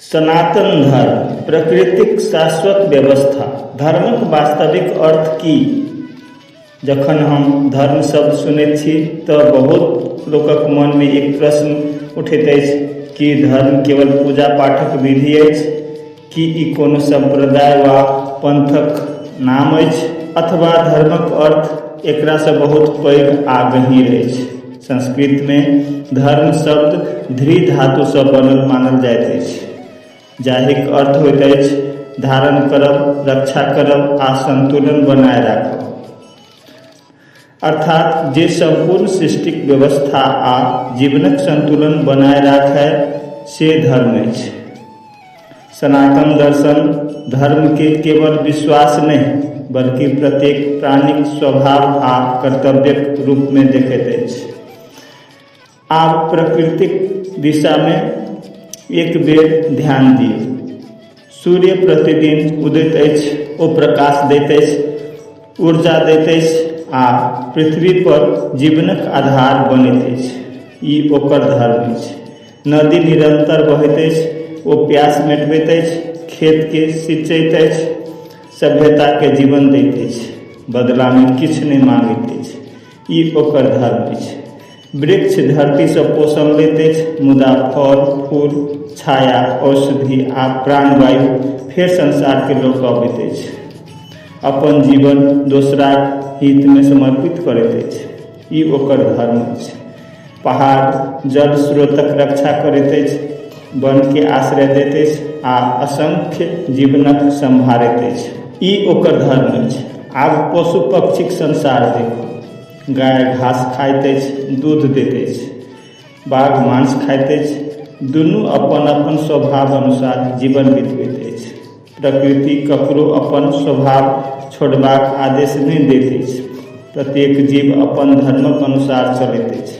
सनातन धर्म प्रकृतिक शाश्वत व्यवस्था धर्मक वास्तविक अर्थ की जखन हम धर्म शब्द सुनैत छी तऽ बहुत लोकक मनमे एक प्रश्न उठैत अछि कि धर्म केवल पूजा पाठक विधि अछि की ई कोनो सम्प्रदाय वा पन्थक नाम अछि अथवा धर्मक अर्थ एकरासँ बहुत पैघ आ गहींर अछि संस्कृतमे धर्म शब्द धृ धातुसँ बनल मानल जाइत अछि जाहिक अर्थ होइत अछि धारण करब रक्षा करब आ सन्तुलन बनाए राखब अर्थात जे सम्पूर्ण सृष्टिक व्यवस्था आ जीवनक संतुलन बनाए राखय से धर्म अछि। सनातन दर्शन धर्म के केवल विश्वास नहि बल्कि प्रत्येक प्राणीक स्वभाव आ कर्तव्यक रूप मे देखैत अछि। आब प्रकृतिक दिशामे एक बेर ध्यान दियौ सूर्य प्रतिदिन उदैत अछि ओ प्रकाश दैत अछि ऊर्जा दैत अछि आ पृथ्वी पर जीवनक आधार बनैत अछि ई ओकर धर्म अछि नदी निरंतर बहैत अछि ओ प्यास मेटबैत अछि खेतके सिंचैत अछि सभ्यताके जीवन दैत अछि बदलामे किछु नहि माँगैत अछि ई ओकर धर्म अछि वृक्ष धरतीसँ पोषण लैत अछि मुदा फल फूल छाया औषधि आ प्राणवायु फेर संसारके लऽ कऽ अबैत अछि अपन जीवन दोसराक हितमे समर्पित करैत अछि ई ओकर धर्म अछि पहाड़ जल स्रोतक रक्षा करैत अछि वनके आश्रय दैत अछि आ असंख्य जीवनक सम्हारैत अछि ई ओकर धर्म अछि आब पशु पक्षीक संसार देखू गाय घास खाइत अछि दूध दैत अछि बाघ मांस खाइत अछि दुनू अपन अपन स्वभाव अनुसार जीवन बितबैत अछि प्रकृति ककरो अपन स्वभाव छोड़बाक आदेश नहि दैत अछि प्रत्येक जीव अपन धर्मक अनुसार चलैत अछि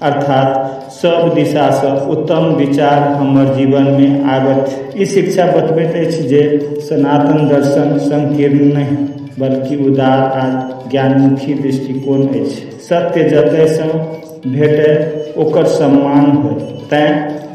अर्थात सब दिशा सँ उत्तम विचार हमर जीवन मे आबैत ई शिक्षा बतबैत अछि जे सनातन दर्शन संकीर्ण नहि बल्कि उदार आ ज्ञानमुखी दृष्टिकोण अछि सत्य जतय सँ भेटय ओकर सम्मान होय तैं